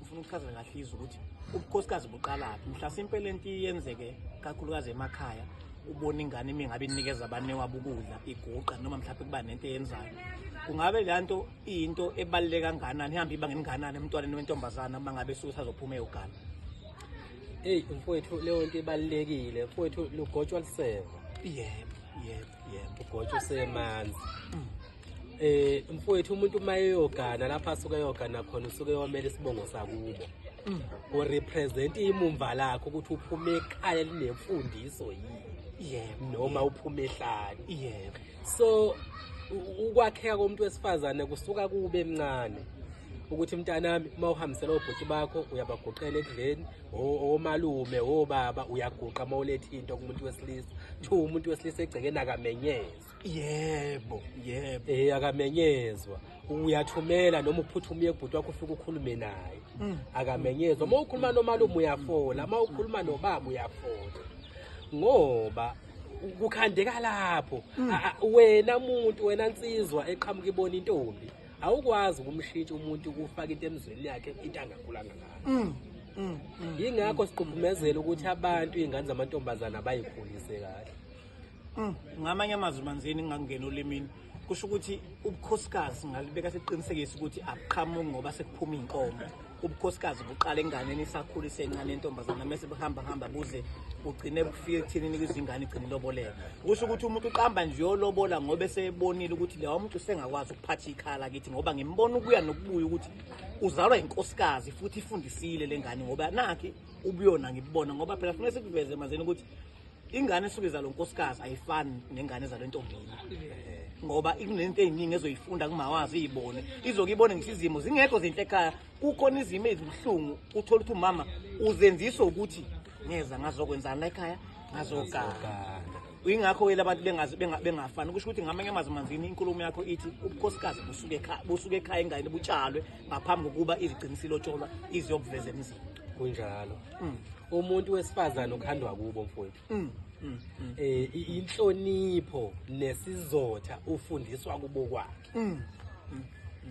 Ufuna ukuchaza kahle izwe ukuthi ubukhosikazi buqalaphi mhlasimpe le nto iyenzeke kakhulukazi emakhaya ubona ingane imi ngabe inikeza abanewabo ukudla iguqa noma mhlawumbe kuba nento eyenzayo kungabe le nto iyinto ebaluleke kanganani ihambe iba ngenganani emntwaneni wentombazana uma ngabe suke sazophuma eyogana eyi mfowethu leyo nto ibalulekile mfowethu lugotshwa luseva yebo yebo yebo ugotshwa usemanzi mm. eh mfowethu umuntu uma eyogana lapha asuke eyogana khona usuke yomela isibongo sakubo mm. u represent imumva lakho ukuthi uphume ekhaya linemfundiso yini yebo noma uphume ehlani yebo so ukwakheka komuntu wesifazane kusuka kube emncane ukuthi mntanami uma uhambisela obhuti bakho uyabaguqela ekudleni omalume obaba uyaguqa uma uletha into kumuntu wesilisa kuthiwa umuntu wesilisa egcekeni akamenyeza yebo yebo eh akamenyezwa uyathumela noma uphutha umuye kubhuti wakho ufike ukhulume naye mm. akamenyezwa uma ukhuluma nomalume uyafola uma ukhuluma nobaba uyafola ngoba kukhandeka lapho mm. wena muntu wena nsizwa eqhamuka ibona intombi awukwazi ukumshintsha umuntu ukufaka into emzweni yakhe into angakhulanga ngayo mm. Mm, mm, yingakho mm. siquphumezela ukuthi abantu iy'ngane zamantombazane abayikhulise kahle Mm, ngamanye amazwi manzini ngingakungena olimini kusho ukuthi ubukhosikazi ngalibeka sekuqinisekisa ukuthi akuqhamuki ngoba sekuphuma iy'nkomo ubukhosikazi buqala enganeni isakhula isencane intombazana mese buhamba hamba buze ugcine bufike ekuthenini kwizingane igcine iloboleka kusho ukuthi umuntu uqamba nje yolobola ngoba esebonile ukuthi lewa muntu usengakwazi ukuphatha ikhala kithi ngoba ngimbona ukuya nokubuya ukuthi uzalwa inkosikazi futhi ifundisile le ngane ngoba nakhe ubuyona ngibubona ngoba phela funeka sikuveze mazeni ukuthi ingane esuke izalo nkosikazi ayifani nengane ezalo entombini ngoba ikunento eziningi ezoyifunda kumawazi izibone izoke ibone ngisho izimo zingekho zinhle ekhaya kukhona izimo ezibuhlungu uthola ukuthi umama uzenzisa ukuthi ngeza ngazokwenzani la ekhaya ngazoganga ingakho wele abantu bengazi bengafani kusho ukuthi ngamanye amazwi manzini inkulumo yakho ithi ubukhosikazi busuke ekhaya busuke ekhaya ingane butshalwe ngaphambi kokuba izigcinisilotsholwa iziyokuveza emzini kunjalo mm. umuntu wesifazane ukhandwa kubo mfowethu mm. mm. mm. eh inhlonipho nesizotha ufundiswa kubo kwakhe mm. mm.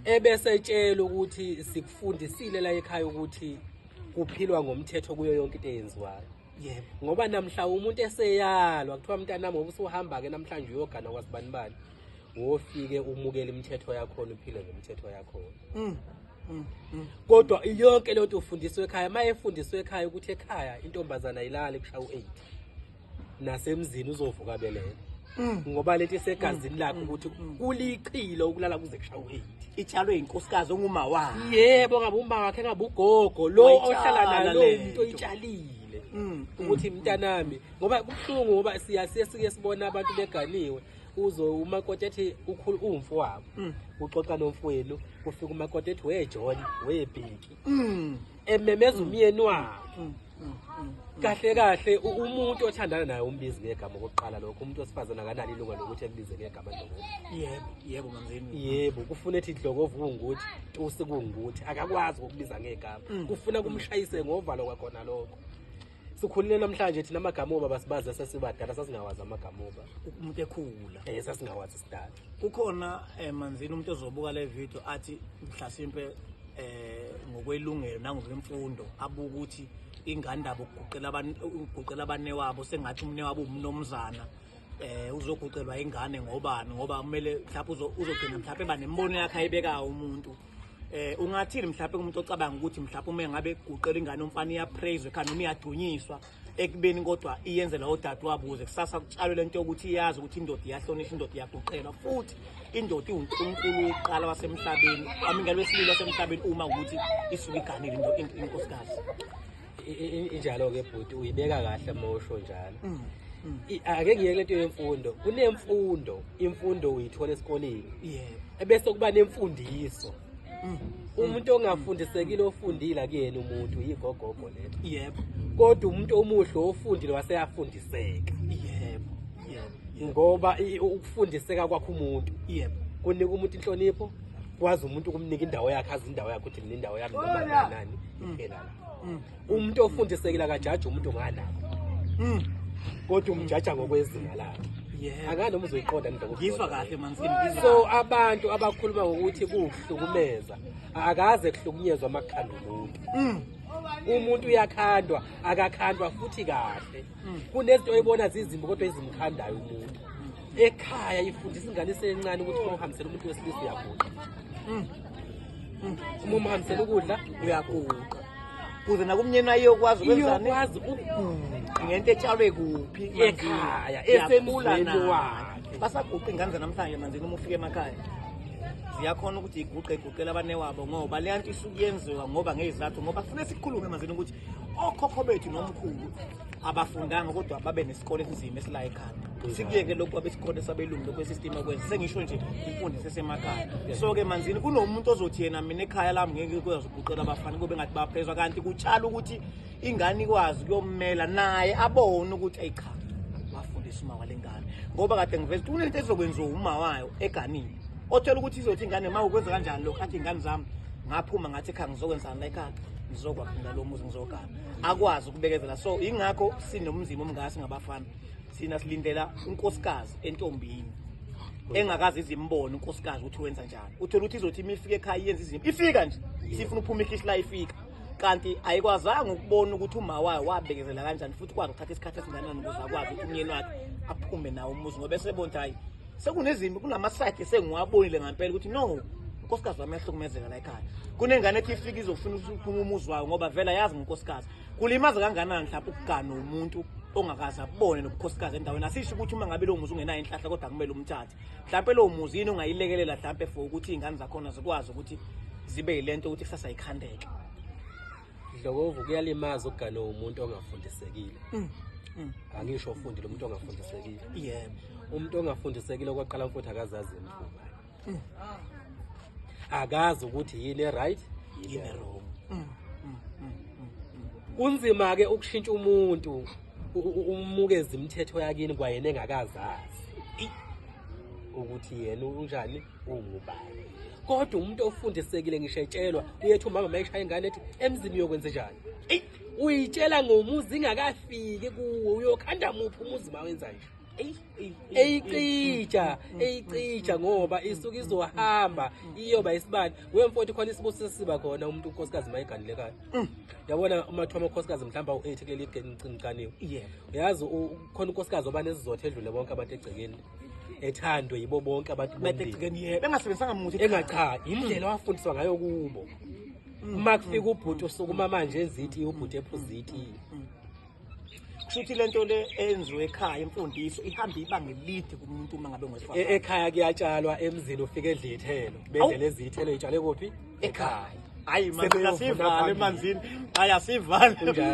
ebesetshela ukuthi sikufundisile la ekhaya ukuthi kuphilwa ngomthetho kuyo yonke into eyenziwayo yebo ngoba namhla umuntu eseyalwa kuthiwa mntanami ngoba usuhamba-ke namhlanje uyogana kwasibanibani wofike umukele imithetho yakhona uphile ngemithetho yakhona mm, mm, mm. kodwa yonke leyo nto ufundiswe ekhaya uma efundiswe ekhaya ukuthi ekhaya intombazana ilale kushaya u-eight nasemzini uzovuka belele Mm. ngoba lento isegazini mm. lakhe ukuthi mm. kulichilo ukulala kuze kushaye u-8 itshalwe yinkosikazi onguma wakhe yebo ngabe uma wakhe ngabe ugogo lo ohlala nalo umuntu oyitshalile ukuthi mntanami ngoba kubuhlungu ngoba siya siye sike sibona abantu beganiwe uzo umakoti ethi ukhulu umfo wabo uxoxa nomfowenu kufika umakoti ethi we John we Bheki ememeza umyeni wabo kahle kahle umuntu othandana naye umbizi ngegama okokuqala lokho umuntu wesifazane akanalo ilunga lokuthi akubize ngegama dlokovu yebo yebo mamzeni yebo kufuna ethi dlokovu kungukuthi tusi kungukuthi akakwazi ukubiza ngegama mm. kufuna kumshayise ngovalo kwakhona lokho sikhulile namhlanje thina amagama oba basibazi sesibadala sasingawazi amagama oba umuntu ekhula eh sasingawazi sidala kukhona eh, manzini umuntu ozobuka le video athi mhlasimpe eh ngokwelungelo nangokwemfundo abuka ukuthi ingane ndaba ukuguqela abantu ukuguqela abane wabo sengathi umne wabo umnomzana eh uzoguqelwa ingane ngobani ngoba kumele mhlawumbe uzogcina mhlawumbe eba nembono yakhe ayibekayo umuntu eh ungathini mhlawumbe umuntu ocabanga ukuthi mhlawumbe uma ngabe guqela ingane umfana iyapraise ekhanda noma iyadunyiswa ekubeni kodwa iyenzela odadewabo ukuze kusasa kutshalwe lento yokuthi iyazi ukuthi indoda iyahlonishwa indoda iyaguqela futhi indoda iwunkulunkulu wokuqala wasemhlabeni amingalo wesililo wasemhlabeni uma ukuthi isuke iganile into inkosikazi injalo-ke bhuti uyibeka kahle uma usho njalo mm, mm. ake ngiyeke lento yemfundo kunemfundo imfundo uyithola esikoleni ebese kuba nemfundiso Mm. umuntu ongafundisekile ofundile akuyena umuntu yigogogo lelo yebo kodwa umuntu omuhle ofundile waseyafundiseka yebo ngoba ukufundiseka kwakho umuntu yebo kunika umuntu inhlonipho kwazi umuntu ukumnika indawo yakhe azi indawo yakhe ukuthi mina indawo yami noma nani mm. iphela la mm. umuntu ofundisekile akajaji umuntu ngana mm. kodwa umjaja ngokwezinga lakhe akanoma uzoyiqonda ngizwa kahle so abantu abakhuluma ngokuthi kuhlukumeza akaze kuhlukunyezwa amakhanda umuntu mm. umuntu uyakhandwa akakhandwa futhi kahle mm. kunezinto oyibona zizimbi kodwa ezimkhandayo umuntu ekhaya ifundisa ingane isencane ukuthi uma uhambisela umuntu wesilisa uyaguqa mm. mm. uma umhambisela ukudla uyaguqa kuze nakumnyeni ayokwazi ukwenzani iyokwazi ukuguqa ngento etshalwe kuphi ekhaya esemulweni wakhe basaguqa ingane zanamhlanje manzini uma ufika emakhaya ziyakhona ukuthi iguqe iguqela abanewabo ngoba leya nto isuke yenziwa ngoba ngezizathu ngoba kufuneka sikhulume manzini ukuthi okhokho bethu nomkhulu abafundanga kodwa babe nesikole esinzima esila ekhanda sikuyeke lokhu abesikole sabelungu lokhu esistem okwenza sengisho nje imfundo sesemakhaya so ke manzini kunomuntu ozothi yena mina ekhaya lami ngeke ikwazi ukuqela abafana kube ngathi baphezwa kanti kutshala ukuthi ingane ikwazi kuyomela naye abone ukuthi ayicha wafundisa uma walengane ngoba kade ngiveza ukuthi kunento ezokwenziwa uma wayo eganini othola ukuthi izothi ingane ma ukwenza kanjani lokho athi ingane zami ngaphuma ngathi ekhaya ngizokwenzani la ekhaya ngizokwakha ngalo muzi ngizogana akwazi kubekezela so ingakho sinomzimba omngasi ngabafana sina silindela unkosikazi entombini engakazi izimbone unkosikazi ukuthi wenza njani uthola ukuthi izothi imifika ekhaya yenza izinto ifika nje sifuna uphuma ikhishi la ifika kanti ayikwazanga ukubona ukuthi uma wayo wabekezela kanjani futhi kwakuthatha isikhathi esinganani ukuze akwazi ukuthi umyeni wakhe aphume nawo umuzi ngoba esebona ukuthi hayi sekunezimbi kunamasayidi esengiwabonile ngampela ukuthi no unkosikazi wami yahlukumezeka la ekhaya kunengane ethi ifike izofuna ukuphuma umuzi wayo ngoba vele ayazi ngonkosikazi kulimaza kanganani mhlawumbe ukugana umuntu ongakaze abone nobukhosikazi endaweni asisho ukuthi uma ngabe lowo muzi ungenayo inhlahla kodwa kumele umthathe mhlawumpe lowo muzi yini ongayilekelela mhlawumpe for ukuthi iy'ngane zakhona zikwazi ukuthi zibe yile nto ukuthi kusasa yikhandeke Dlokovu kuyalimaza ukugana umuntu ongafundisekile. Mm. Mm. Angisho ufundile umuntu ongafundisekile. Yebo. Umuntu ongafundisekile okwaqala mfuthu akazazi imvuba. Mm. Akazi ukuthi yini right, yini wrong. Mm. kunzima ke ukushintsha umuntu umukeza imithetho yakini kwayena engakazazi ukuthi yena unjani ungubani kodwa umuntu ofundisekile ngisho etshelwa uyethi umama mayishaya ingane ethi emzini uyokwenza njani eyi uyitshela ngomuzi ingakafiki kuwo uyokhanda muphi umuzi ma wenza nje eyicija eyicija ngoba isuke izohamba iyoba isibani wemfoti khona isibusiso siba khona umuntu unkosikazi mayiganilekayo mm. yabona umathiwa amakhosikazi mhlawumbe awu-eight kuleli geni ngiciniqaniwe uyazi khona unkosikazi oba nezizotha edlule bonke abantu egcekeni ethandwe yibo bonke abantu bengasebenzisanga muthi enga cha yindlela wafundiswa ngayo kubo uma kufika ubhuti usukuma manje ezithi ubhuti ephuziti kushuthi lento le enziwe ekhaya imfundiso ihamba ibanga elide kumuntu uma ngabe ngwesifazane e-, ekhaya kuyatshalwa emzini ufike edla ithelo bedlela ezithelo itshale kuphi ekhaya hayi manje asivale emanzini hayi asivale kunjalo